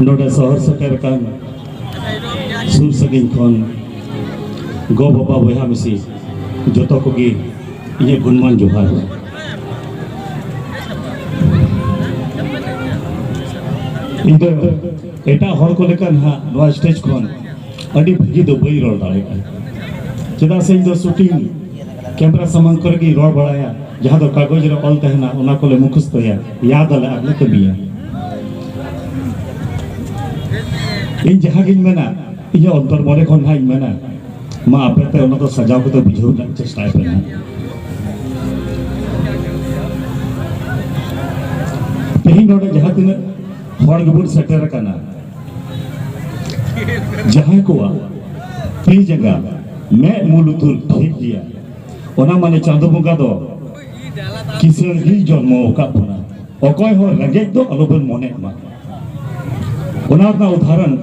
ᱱᱚᱰᱮ ᱥᱚᱦᱚᱨ ᱥᱮᱴᱮᱨ ᱟᱠᱟᱱ ᱥᱩᱨ ᱥᱟᱺᱜᱤᱧ ᱠᱷᱚᱱ ᱜᱚ ᱵᱟᱵᱟ ᱵᱚᱭᱦᱟ ᱢᱤᱥᱤ ᱡᱚᱛᱚ ᱠᱚᱜᱮ ᱤᱧᱟᱹᱜ ᱜᱩᱱᱢᱟᱱ ᱡᱚᱦᱟᱨ ᱤᱧ ᱫᱚ ᱮᱴᱟᱜ ᱦᱚᱲ ᱠᱚ ᱞᱮᱠᱟ ᱱᱟᱦᱟᱜ ᱱᱚᱣᱟ ᱥᱴᱮᱡᱽ ᱠᱷᱚᱱ ᱟᱹᱰᱤ ᱵᱷᱟᱹᱜᱤ ᱫᱚ ᱵᱟᱹᱧ ᱨᱚᱲ ᱫᱟᱲᱮᱭᱟᱜᱼᱟ ᱪᱮᱫᱟᱜ ᱥᱮ ᱤᱧ ᱫᱚ ᱥᱩᱴᱤᱝ ᱠᱮᱢᱨᱟ ᱥᱟᱢᱟᱝ ᱠᱚᱨᱮ ᱜᱮᱧ ᱨᱚᱲ ᱵᱟᱲᱟᱭᱟ ᱡᱟᱦᱟᱸ ᱫᱚ ᱠᱟᱜᱚᱡᱽ ᱨᱮ ᱚᱞ ᱛᱟᱦᱮᱱᱟ ᱚᱱᱟ ᱠᱚᱞᱮ ᱢᱩᱠᱷᱚᱥᱛᱚᱭᱟ ᱭᱟᱫᱽ ᱟᱞᱮ ᱟᱨ ᱞᱮ ᱠᱟᱹᱢᱤᱭᱟ ᱤᱧ ᱡᱟᱦᱟᱸ ᱜᱤᱧ ᱢᱮᱱᱟ ᱤᱧᱟᱹᱜ ᱚᱱᱛᱚᱨ ᱢᱚᱱᱮ ᱠᱷᱚᱱ ᱱᱟᱦᱟᱜ ᱤᱧ ᱢᱮᱱᱟ ᱢᱟ ᱟᱯᱮ ᱛᱮ ᱚᱱᱟ ᱫᱚ ᱥᱟᱡᱟᱣ ᱠᱟᱛᱮ ᱵᱩᱡᱷᱟᱹᱣ ᱨᱮᱱᱟᱜ ᱪᱮᱥᱴᱟᱭ ᱯᱮ ᱱᱟᱦᱟᱜ ᱛᱮᱦᱮᱧ ᱱᱚᱰᱮ ᱡᱟᱦᱟᱸ ᱛᱤᱱᱟᱹᱜ ᱦᱚᱲ ᱜᱮᱵᱚᱱ ᱥᱮᱴᱮᱨ ᱟᱠᱟᱱᱟ ᱡᱟᱦᱟᱸᱭ ᱠᱚᱣᱟᱜ ᱛᱤ ᱡᱟᱸᱜᱟ ᱢᱮᱫ ᱢᱩ ᱞᱩᱛᱩᱨ ᱴᱷᱤᱠ ᱜᱮᱭᱟ ᱚᱱᱟ ᱢᱟᱱᱮ ᱪᱟᱸᱫᱚ ᱵᱚᱸᱜᱟ ᱫᱚ ᱠᱤᱥᱟᱹᱬ ᱜᱮ ᱡᱚᱱᱢᱚ ᱟᱠᱟᱫ ᱵᱚᱱᱟ ᱚᱠᱚᱭ ᱦᱚᱸ ᱨᱮᱸᱜᱮᱡ ᱫᱚ ᱟᱞᱚᱵᱚᱱ ᱢᱚᱱᱮᱜ ᱢᱟ ᱚᱱᱟ ᱨᱮᱱᱟᱜ ᱩᱫᱟᱦᱚᱨᱚᱱ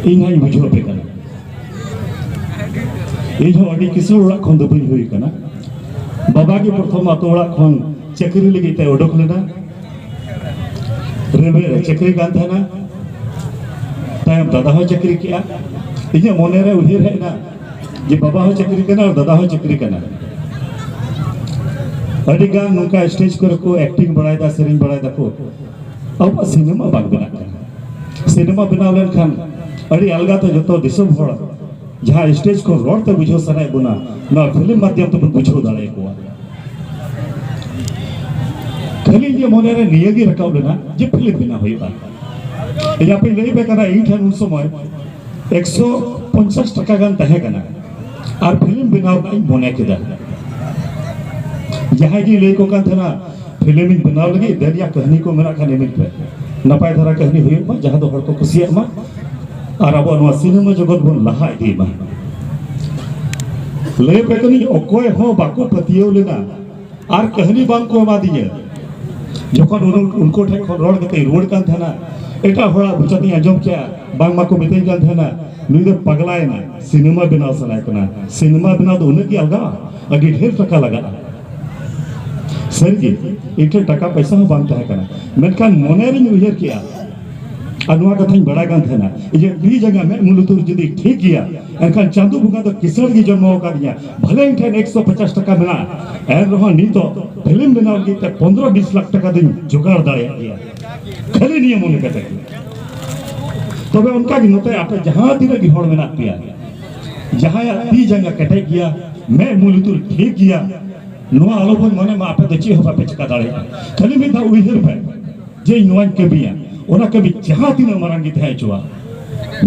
ᱤᱧ ᱦᱚᱸᱧ ᱵᱩᱡᱷᱟᱹᱣ ᱟᱯᱮ ᱠᱟᱱᱟ ᱤᱧ ᱦᱚᱸ ᱟᱹᱰᱤ ᱠᱤᱥᱟᱹᱬ ᱚᱲᱟᱜ ᱠᱷᱚᱱ ᱫᱚ ᱵᱟᱹᱧ ᱦᱩᱭ ᱟᱠᱟᱱᱟ ᱵᱟᱵᱟ ᱜᱮ ᱯᱨᱚᱛᱷᱚᱢ ᱟᱛᱳ ᱚᱲᱟᱜ ᱠᱷᱚᱱ ᱪᱟᱹᱠᱨᱤ ᱞᱟᱹᱜᱤᱫ ᱛᱮ ᱚᱰᱚᱠ ᱞᱮᱱᱟ ᱨᱮᱞᱣᱮ ᱨᱮ ᱪᱟᱹᱠᱨᱤ ᱠᱟᱱ ᱛᱟᱦᱮᱱᱟ ᱛᱟᱭᱚᱢ ᱫᱟᱫᱟ ᱦᱚᱸ ᱪᱟᱹᱠᱨᱤ ᱠᱮᱜᱼᱟ ᱤᱧᱟᱹᱜ ᱢᱚᱱᱮ ᱨᱮ ᱩᱭᱦᱟᱹᱨ ᱦᱮᱡ ᱮᱱᱟ ᱡᱮ ᱵᱟᱵᱟ ᱦᱚᱸ ᱪᱟᱹᱠᱨᱤ ᱠᱟᱱᱟ ᱟᱨ ᱫᱟᱫᱟ ᱦᱚᱸ ᱪᱟᱹᱠᱨᱤ ᱠᱟᱱᱟ ᱟᱹᱰᱤ ᱜᱟᱱ ᱱᱚᱝᱠᱟ ᱥᱴᱮᱡᱽ ᱠᱚᱨᱮ ᱠᱚ ᱮᱠᱴᱤᱝ ᱵᱟᱲᱟᱭᱮᱫᱟ ᱥᱮᱨᱮᱧ ᱵᱟᱲᱟᱭᱮᱫᱟ ᱠᱚ ᱟᱵᱚᱣᱟᱜ ᱥᱤᱱᱮᱢᱟ ᱵᱟᱝ ᱵᱮᱱᱟᱜ ᱠᱟᱱᱟ ᱥᱤᱱᱮᱢᱟ ᱵᱮᱱᱟᱣ ᱞᱮᱱᱠᱷᱟᱱ ᱟᱹᱰᱤ ᱟᱞᱜᱟ ᱛᱮ ᱡᱚᱛᱚ ᱫᱤᱥᱚᱢ ᱦᱚᱲ ᱡᱟᱦᱟᱸ ᱥᱴᱮᱡᱽ ᱠᱷᱚᱱ ᱨᱚᱲ ᱛᱮ ᱵᱩᱡᱷᱟᱹᱣ ᱥᱟᱱᱟᱭᱮᱫ ᱵᱚᱱᱟ ᱱᱚᱣᱟ ᱯᱷᱤᱞᱢ ᱢᱟᱫᱽᱫᱷᱚᱢ ᱛᱮᱵᱚᱱ ᱵᱩᱡᱷᱟᱹᱣ ᱫᱟᱲᱮᱭᱟᱠᱚᱣᱟ ᱠᱷᱟᱹᱞᱤ ᱤᱧᱟᱹᱜ ᱢᱚᱱᱮ ᱨᱮ ᱱᱤᱭᱟᱹ ᱜᱮ ᱨᱟᱠᱟᱵ ᱞᱮᱱᱟ ᱡᱮ ᱯᱷᱤᱞᱢ ᱵᱮᱱᱟᱣ ᱦᱩᱭᱩᱜᱼᱟ ᱤᱧ ᱟᱯᱮ ᱞᱟᱹᱭ ᱯᱮ ᱠᱟᱱᱟ ᱤᱧ ᱴᱷᱮᱱ ᱩᱱ ᱥᱚᱢᱚᱭ ᱮᱠᱥᱚ ᱯᱚᱧᱪᱟᱥ ᱴᱟᱠᱟ ᱜᱟᱱ ᱛᱟᱦᱮᱸ ᱠᱟᱱᱟ ᱟᱨ ᱯᱷᱤᱞᱢ ᱵᱮᱱᱟᱣ ᱨᱮᱱᱟᱜ ᱤᱧ ᱢᱚᱱᱮ ᱠᱮᱫᱟ ᱡᱟᱦᱟᱸᱭ ᱜᱮ ᱞᱟᱹᱭ ᱠᱚ ᱠᱟᱱ ᱛᱟᱦᱮᱱᱟ ᱯᱷᱤᱞᱢ ᱤᱧ ᱵᱮᱱᱟᱣ ᱞᱟᱹᱜᱤᱫ ᱫᱮᱱ ᱭᱟ ᱠᱟᱹᱦᱱᱤ ᱠᱚ ᱢᱮᱱᱟᱜ ᱠᱷᱟᱱ ᱤᱢᱟᱹᱧ ᱯᱮ ᱱᱟᱯᱟᱭ ᱫᱷᱟᱨᱟ ᱠᱟᱹᱦᱱᱤ ᱦᱩᱭᱩᱜ ᱢᱟ ᱡᱟᱦᱟᱸ ᱫᱚ ᱦᱚᱲ ᱠᱚ ᱠᱩᱥᱤᱭᱟᱜ ᱢᱟ ᱟᱨ ᱟᱵᱚ ᱱᱚᱣᱟ ᱥᱤᱱᱮᱢᱟ ᱡᱚᱜᱚᱛ ᱵᱚᱱ ᱞᱟᱦᱟ ᱤᱫᱤ ᱢᱟ ᱞᱟᱹᱭ ᱯᱮ ᱠᱟᱹᱱᱟᱹᱧ ᱚᱠᱚᱭ ᱦᱚᱸ ᱵᱟᱠᱚ ᱯᱟᱹᱛᱭᱟᱹᱣ ᱞᱮᱱᱟ ᱟᱨ ᱠᱟᱹᱦᱱᱤ ᱵᱟᱝ ᱠᱚ ᱮᱢᱟ ᱫᱤᱧᱟ ᱡᱚᱠᱷᱚᱱ ᱩᱱᱠᱩ ᱴᱷᱮᱱ ᱠᱷᱚᱱ ᱨᱚᱲ ᱠᱟᱛᱮ ᱨᱩᱣᱟᱹᱲ ᱠᱟᱱ ᱛᱟᱦᱮᱱᱟ ᱮᱴᱟᱜ ᱦᱚᱲᱟᱜ ᱢᱚᱪᱟᱛᱮᱧ ᱟᱸᱡᱚᱢ ᱠᱮᱜᱼᱟ ᱵᱟᱝ ᱢᱟᱠᱚ ᱢᱤᱛᱟᱹᱧ ᱠᱟᱱ ᱛᱟᱦᱮᱱᱟ ᱱᱩᱭ ᱫᱚ ᱯᱟᱜᱽᱞᱟᱭᱮᱱᱟ ᱥᱤᱱᱮᱢᱟ ᱵᱮᱱᱟᱣ ᱥᱟᱱᱟᱭ ᱠᱟᱱᱟ ᱥᱤᱱᱮᱢᱟ ᱵᱮᱱᱟᱣ ᱫᱚ ᱩᱱᱟᱹᱜ ᱜᱮ ᱟᱞᱜᱟᱜᱼᱟ ᱟᱹᱰᱤ ᱰᱷᱮᱨ ᱴᱟᱠᱟ ᱞᱟᱜᱟᱜᱼᱟ ᱥᱟᱹᱨᱤᱜᱮ ᱤᱧ ᱴᱷᱮᱱ ᱴᱟᱠᱟ ᱯᱚᱭᱥᱟ ᱦᱚᱸ ᱵᱟᱝ ᱛᱟᱦᱮᱸ ᱠᱟᱱᱟ ᱢᱮᱱᱠᱷᱟᱱ ᱢᱚᱱᱮ ᱨᱤᱧ ᱩᱭᱦᱟᱹᱨ ᱠᱮᱜᱼᱟ ᱟᱨ ᱱᱚᱣᱟ ᱠᱟᱛᱷᱟᱧ ᱵᱟᱲᱟᱭ ᱠᱟᱱ ᱛᱟᱦᱮᱱᱟ ᱡᱮ ᱱᱤ ᱡᱟᱸᱜᱟ ᱢᱮᱫ ᱢᱩ ᱞᱩᱛᱩᱨ ᱡᱩᱫᱤ ᱴᱷᱤᱠ ᱜᱮᱭᱟ ᱮᱱᱠᱷᱟᱱ ᱪᱟᱸᱫᱚ ᱵᱚᱸᱜᱟ ᱫᱚ ᱠᱤᱥᱟᱹᱬ ᱜᱮ ᱡᱚᱱᱢᱚ ᱟᱠᱟᱫᱤᱧᱟ ᱵᱷᱟᱞᱮ ᱤᱧ ᱴᱷᱮᱱ ᱮᱠᱥᱚ ᱯᱚᱪᱟᱥ ᱴᱟᱠᱟ ᱢᱮᱱᱟᱜᱼᱟ ᱮᱱ ᱨᱮᱦᱚᱸ ᱱᱤᱛᱚᱜ ᱯᱷᱤᱞᱢ ᱵᱮᱱᱟᱣ ᱞᱟᱹᱜᱤᱫ ᱛᱮ ᱯᱚᱱᱫᱨᱚ ᱵᱤᱥ ᱞᱟᱠᱷ ᱴᱟᱠᱟ ᱫᱚᱧ ᱡᱚᱜᱟᱲ ᱫᱟᱲᱮᱭᱟᱜ ᱜᱮᱭᱟ ᱠᱷᱟᱹᱞᱤ ᱱᱤᱭᱟᱹ ᱢᱚᱱᱮ ᱠᱟᱛᱮ ᱜᱮ ᱛᱚᱵᱮ ᱚᱱᱠᱟ ᱜᱮ ᱱᱚᱛᱮ ᱟᱯᱮ ᱡᱟᱦᱟᱸ ᱛᱤᱱᱟᱹᱜ ᱜᱮ ᱦᱚᱲ ᱢᱮᱱᱟᱜ ᱯᱮᱭᱟ ᱡᱟᱦᱟᱸᱭᱟᱜ ᱛᱤ ᱡᱟᱸᱜᱟ ᱠᱮᱴᱮᱡ ᱜᱮᱭᱟ ᱢᱮᱫ ᱢᱩ ᱞᱩᱛᱩᱨ ᱴᱷᱤᱠ ᱜᱮᱭᱟ ᱱᱚᱣᱟ ᱟᱞᱚ ᱵᱚᱱ ᱢᱚᱱᱮ ᱢᱟ ᱟᱯᱮ ᱫᱚ ᱪᱮᱫ ᱦᱚᱸ ᱵᱟᱯᱮ ᱪᱤᱠᱟ ᱫᱟᱲᱮᱭᱟᱜᱼᱟ ᱠᱷᱟᱹᱞᱤ ᱢᱤᱫ ᱫᱷᱟᱣ ᱩᱭᱦᱟᱹᱨ ᱯᱮ ᱡᱮ ᱤᱧ ᱱᱚᱣᱟᱧ ᱠᱟᱹᱢᱤᱭᱟ ᱚᱱᱟ ᱠᱟᱹᱢᱤ ᱡᱟᱦᱟᱸ ᱛᱤᱱᱟᱹᱜ ᱢᱟᱨᱟᱝ ᱜᱮ ᱛᱟᱦᱮᱸ ᱦᱚᱪᱚᱣᱟᱜ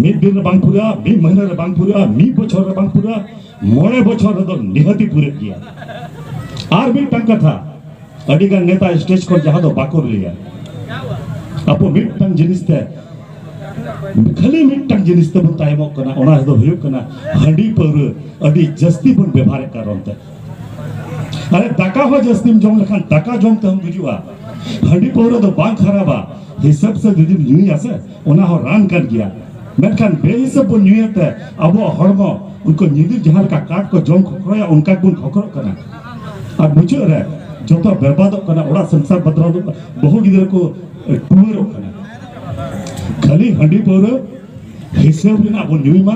ᱢᱤᱫ ᱫᱤᱱ ᱨᱮ ᱵᱟᱝ ᱯᱩᱨᱟᱹᱜᱼᱟ ᱢᱤᱫ ᱢᱟᱹᱦᱱᱟᱹ ᱨᱮ ᱵᱟᱝ ᱯᱩᱨᱟᱹᱜᱼᱟ ᱢᱤᱫ ᱵᱚᱪᱷᱚᱨ ᱨᱮ ᱵᱟᱝ ᱯᱩᱨᱟᱹᱜᱼᱟ ᱢᱚᱬᱮ ᱵᱚᱪᱷᱚᱨ ᱨᱮᱫᱚ ᱱᱤᱦᱟᱹᱛᱤ ᱯᱩᱨᱟᱹᱜ ᱜᱮᱭᱟ ᱟᱨ ᱢᱤᱫᱴᱟᱝ ᱠᱟᱛᱷᱟ ᱟᱹᱰᱤ ᱜᱟᱱ ᱱᱮᱛᱟ ᱥᱴᱮᱡᱽ ᱠᱷᱚᱱ ᱡᱟᱦᱟᱸ ᱫᱚ ᱵᱟᱠᱚ ᱞᱟᱹᱭᱟ ᱟᱵᱚ ᱢᱤᱫᱴᱟᱝ ᱡᱤᱱᱤᱥ ᱛᱮ ᱠᱷᱟᱹᱞᱤ ᱢᱤᱫᱴᱟᱝ ᱡᱤᱱᱤᱥ ᱛᱮᱵᱚᱱ ᱛᱟᱭᱚᱢᱚᱜ ᱠᱟᱱᱟ ᱚᱱᱟ ᱫᱚ ᱦᱩᱭᱩᱜ ᱠᱟᱱᱟ ᱦᱟᱺᱰᱤ ᱯᱟᱹᱣᱨᱟᱹ ᱟᱹᱰᱤ ᱡᱟᱹᱥᱛᱤ ᱵᱚᱱ ᱵᱮᱵᱷᱟᱨᱮᱫ ᱠᱟᱨᱚᱱ ᱛᱮ ᱢᱟᱱᱮ ᱫᱟᱠᱟ ᱦᱚᱸ ᱡᱟᱹᱥᱛᱤᱢ ᱡᱚᱢ ᱞᱮᱠᱷᱟᱱ ᱫᱟᱠᱟ ᱡᱚᱢ ᱛᱮᱦᱚᱸ ᱜᱩᱡᱩᱜᱼᱟ ᱦᱟᱺᱰᱤ ᱯᱟᱹᱣᱨᱟᱹ ᱫᱚ ᱵᱟᱝ ᱠᱷᱟᱨᱟᱯᱟ ᱦᱤᱥᱟᱹᱵ ᱥᱮ ᱡᱩᱫᱤᱢ ᱧᱩᱭᱟ ᱥᱮ ᱚᱱᱟ ᱦᱚᱸ ᱨᱟᱱ ᱠᱟᱱ ᱜᱮᱭᱟ ᱢᱮᱱᱠᱷᱟᱱ ᱵᱮᱦᱤᱥᱟᱹᱵ ᱵᱚᱱ ᱧᱩᱭᱮᱫ ᱛᱮ ᱟᱵᱚᱣᱟᱜ ᱦᱚᱲᱢᱚ ᱩᱱᱠᱩ ᱧᱤᱫᱤᱨ ᱡᱟᱦᱟᱸ ᱞᱮᱠᱟ ᱠᱟᱴ ᱠᱚ ᱡᱚᱢ ᱠᱷᱚᱠᱨᱚᱭᱟ ᱚᱱᱠᱟ ᱜᱮᱵᱚᱱ ᱠᱷᱚᱠᱨᱚᱜ ᱠᱟᱱᱟ ᱟᱨ ᱢᱩᱪᱟᱹᱫ ᱨᱮ ᱡᱚᱛᱚ ᱵᱮᱨᱵᱟᱫᱚᱜ ᱠᱟᱱᱟ ᱚᱲᱟᱜ ᱥᱚᱝᱥᱟᱨ ᱵᱟᱫᱨᱟᱫᱚᱜ ᱠᱟᱱᱟ ᱵᱟᱹᱦᱩ ᱜᱤᱫᱽᱨᱟᱹ ᱠᱚ ᱴᱩᱣᱟᱹᱨᱚᱜ ᱠᱟᱱᱟ ᱠᱷᱟᱹᱞᱤ ᱦᱟᱺᱰᱤ ᱯᱟᱹᱣᱨᱟᱹ ᱦᱤᱥᱟᱹᱵ ᱨᱮᱱᱟᱜ ᱵᱚᱱ ᱧᱩᱭ ᱢᱟ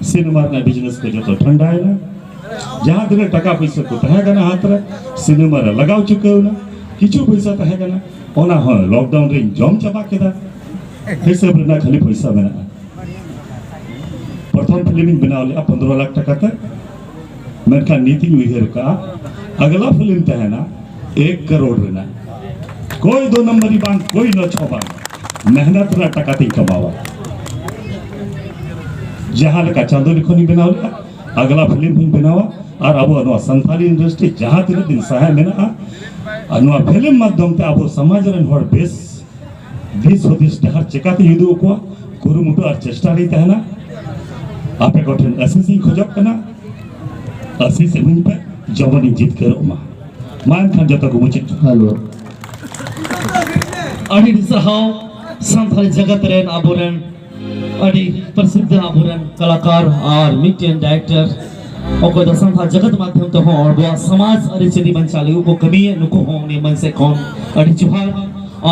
ᱥᱤᱱᱮᱢᱟ ᱨᱮᱱᱟᱜ ᱵᱤᱡᱽᱱᱮᱥ ᱠᱚ ᱡᱚᱛᱚ ᱴᱷᱟᱱᱰᱟᱭᱮᱱᱟ ᱡᱟᱦᱟᱸ ᱛᱤᱱᱟᱹᱜ ᱴᱟᱠᱟ ᱯᱚᱭᱥᱟ ᱠᱚ ᱛᱟᱦᱮᱸ ᱠᱟᱱᱟ ᱦᱟᱛ ᱨᱮ ᱥᱤᱱᱮᱢᱟ ᱨᱮ ᱞᱟᱜᱟᱣ ᱪᱩᱠᱟᱹᱣᱱᱟ ᱠᱤᱪᱷᱩ ᱯᱚᱭᱥᱟ ᱛᱟᱦᱮᱸ ᱠᱟᱱᱟ ᱚᱱᱟ ᱦᱚᱸ ᱞᱚᱠᱰᱟᱣᱩᱱ ᱨᱮᱧ ᱡᱚᱢ ᱪᱟᱵᱟ ᱠᱮᱫᱟ ᱦᱤᱥᱟᱹᱵ ᱨᱮᱱᱟᱜ ᱠᱷᱟᱹᱞᱤ ᱯᱚᱭᱥᱟ ᱢᱮᱱᱟᱜᱼᱟ ᱯᱨᱚᱛᱷᱚᱢ ᱯᱷᱤᱞᱢᱤᱧ ᱵᱮᱱᱟᱣ ᱞᱮᱫᱼᱟ ᱯᱚᱱᱫᱽᱨᱚ ᱞᱟᱠᱷ ᱴᱟᱠᱟ ᱛᱮ ᱢᱮᱱᱠᱷᱟᱱ ᱱᱤᱛᱤᱧ ᱩᱭᱦᱟᱹᱨ ᱠᱟᱜᱼᱟ ᱟᱜᱞᱟ ᱯᱷᱤᱞᱢ ᱛᱟᱦᱮᱱᱟ ᱮᱠ ᱠᱟᱨᱳᱲ ᱨᱮᱱᱟᱜ ᱠᱚᱭ ᱫᱚ ᱱᱚᱢᱵᱚᱨᱤ ᱵᱟᱝ ᱠᱚᱭ ᱱᱚ ᱪᱷᱚ ᱵᱟᱝ ᱢᱮᱦᱱᱚᱛ ᱨᱮᱱᱟᱜ ᱴᱟᱠᱟ ᱛᱤᱧ ᱠᱟᱢᱟᱣᱟ ᱡᱟᱦᱟᱸ ᱞᱮᱠᱟ ᱪᱟᱸᱫᱳ ᱞᱤᱠᱷᱚᱱᱤᱧ ᱵᱮᱱᱟᱣ ᱞᱮᱫᱟ ᱟᱜᱞᱟ ᱯᱷᱤᱞᱢ ᱦᱚᱧ ᱵᱮᱱᱟᱣᱟ ᱟᱨ ᱟᱵᱚᱣᱟᱜ ᱱᱚᱣᱟ ᱥᱟᱱᱛᱟᱞᱤ ᱤᱱᱰᱟᱥᱴᱨᱤ ᱡᱟᱦᱟᱸ ᱛᱤᱱᱟᱹᱜ ᱫᱤᱱ ᱥᱟᱦᱮ ᱢᱮᱱᱟᱜᱼᱟ ᱟᱨ ᱱᱚᱣᱟ ᱯᱷᱤᱞᱢ ᱢᱟᱫᱽᱫᱷᱚᱢ ᱛᱮ ᱟᱵᱚ ᱥᱚᱢᱟᱡᱽ ᱨᱮᱱ ᱦᱚᱲ ᱵᱮᱥ ᱫᱤᱥ ᱦᱩᱫᱤᱥ ᱰᱟᱦᱟᱨ ᱪᱮᱠᱟᱛᱮ ᱩᱫᱩᱜ ᱟᱠᱚᱣᱟ ᱠᱩᱨᱩᱢᱩᱴᱩ ᱟᱨ ᱪᱮᱥᱴᱟ ᱨᱮ ᱛᱟᱦᱮᱱᱟ ᱟᱯᱮ ᱠᱚᱴᱷᱮᱱ ᱟᱥᱤᱥ ᱤᱧ ᱠᱷᱚᱡᱚᱜ ᱠᱟᱱᱟ ᱟᱥᱤᱥ ᱤᱢᱟᱹᱧ ᱯᱮ ᱡᱮᱢᱚᱱ ᱤᱧ ᱡᱤᱛᱠᱟᱹᱨᱚᱜ ᱢᱟ ᱢᱟ ᱮᱱᱠᱷᱟᱱ ᱡᱚᱛᱚ ᱠᱚ ᱢᱩᱪᱟᱹᱫ ᱦᱮᱞᱳ ᱟᱹᱰᱤ ᱟᱹᱰᱤ ᱥᱟᱨᱦᱟᱣ ᱥᱟᱱᱛᱟᱲ ᱡᱟᱜᱟᱛ ᱨᱮᱱ ᱟᱵᱚᱨᱮᱱ ᱟᱹᱰᱤ ᱯᱨᱚᱥᱤᱫᱷ ᱟᱵᱚᱨᱮᱱ ᱠᱟᱞᱟᱠᱟᱨ ᱟᱨ ᱢᱤᱫᱴᱮᱱ ᱰᱟᱭᱨᱮᱠᱴᱚᱨ ᱚᱠᱚᱭ ᱫᱚ ᱥᱟᱱᱛᱟᱲ ᱡᱚᱜᱚᱛ ᱢᱟᱫᱽᱫᱷᱚᱢ ᱛᱮᱦᱚᱸ ᱟᱵᱚᱣᱟᱜ ᱥᱚᱢᱟᱡᱽ ᱟᱹᱨᱤᱪᱟᱹᱞᱤ ᱵᱟᱧᱪᱟᱣ ᱞᱟᱹᱜᱤᱫ ᱠᱚ ᱠᱟᱹᱢᱤᱭᱮᱫ ᱱᱩᱠᱩ ᱦᱚᱸ ᱩᱱᱤ ᱢᱟᱹᱱ ᱥᱮᱫ ᱠᱷᱚᱱ ᱟᱹᱰᱤ ᱡᱚᱦᱟᱨ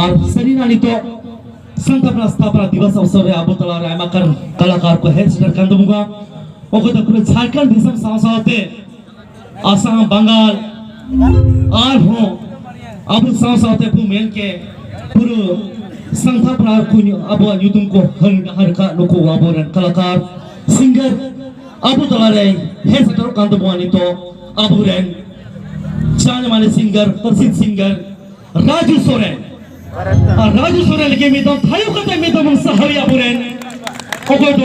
ᱟᱨ ᱥᱟᱹᱨᱤᱱᱟᱜ ᱱᱤᱛᱚᱜ ᱥᱟᱱᱛᱟᱲ ᱥᱛᱷᱟᱯᱚᱱᱟ ᱫᱤᱵᱚᱥ ᱚᱵᱥᱚᱨ ᱨᱮ ᱟᱵᱚ ᱛᱟᱞᱟᱨᱮ ᱟᱭᱢᱟ ᱠᱟᱨ ᱠᱟᱞᱟᱠᱟᱨ ᱠᱚ ᱦᱮᱡ ᱥᱮᱴᱮᱨ ᱠᱟᱱ ᱛᱟᱵᱚᱱᱟ ᱚᱠᱚᱭ ᱫᱚ ᱯᱩᱨᱟᱹ ᱡᱷᱟᱲᱠᱷᱚᱸᱰ ᱫᱤᱥᱚᱢ ᱥᱟᱶ ᱥᱟᱶᱛᱮ ᱟᱥᱟᱢ ᱵᱟᱝᱜᱟᱞ ᱟᱨᱦᱚᱸ ᱟᱵᱚ ᱥᱟᱶ ᱥᱟᱶᱛᱮ ᱵᱚ ᱢᱮᱱ ᱠᱮ ᱯᱩᱨᱟᱹ ᱥᱟᱱᱛᱷᱟ ᱯᱨᱟᱨ ᱠᱚ ᱟᱵᱚᱣᱟᱜ ᱧᱩᱛᱩᱢ ᱠᱚ ᱦᱟᱨ ᱠᱟᱜ ᱱᱩᱠᱩ ᱟᱵᱚᱨᱮᱱ ᱠᱟᱞᱟᱠᱟᱨ ᱥᱤᱝᱜᱟᱨ ᱟᱵᱚ ᱛᱟᱞᱟᱨᱮ ᱦᱮᱡ ᱥᱮᱴᱮᱨᱚᱜ ᱠᱟᱱ ᱛᱟᱵᱚᱱᱟ ᱱᱤᱛᱚᱜ ᱟᱵᱚᱨᱮᱱ ᱪᱟᱬ ᱢᱟᱱᱮ ᱥᱤᱝᱜᱟᱨ ᱯᱨᱚᱥᱤᱫ ᱥᱤᱝᱜᱟᱨ ᱨᱟᱡᱩ ᱥᱚᱨᱮᱱ ᱟᱨ ᱨᱟᱡᱩ ᱥᱚᱨᱮᱱ ᱞᱟᱹᱜᱤᱫ ᱢᱤᱫ ᱫᱚᱢ ᱛᱷᱟᱭᱚ ᱠᱟᱛᱮ ᱢᱤᱫ ᱫᱚᱢ ᱥᱟᱦᱟᱣ ᱟᱵᱚᱨᱮᱱ ᱚᱠᱚᱭ ᱫᱚ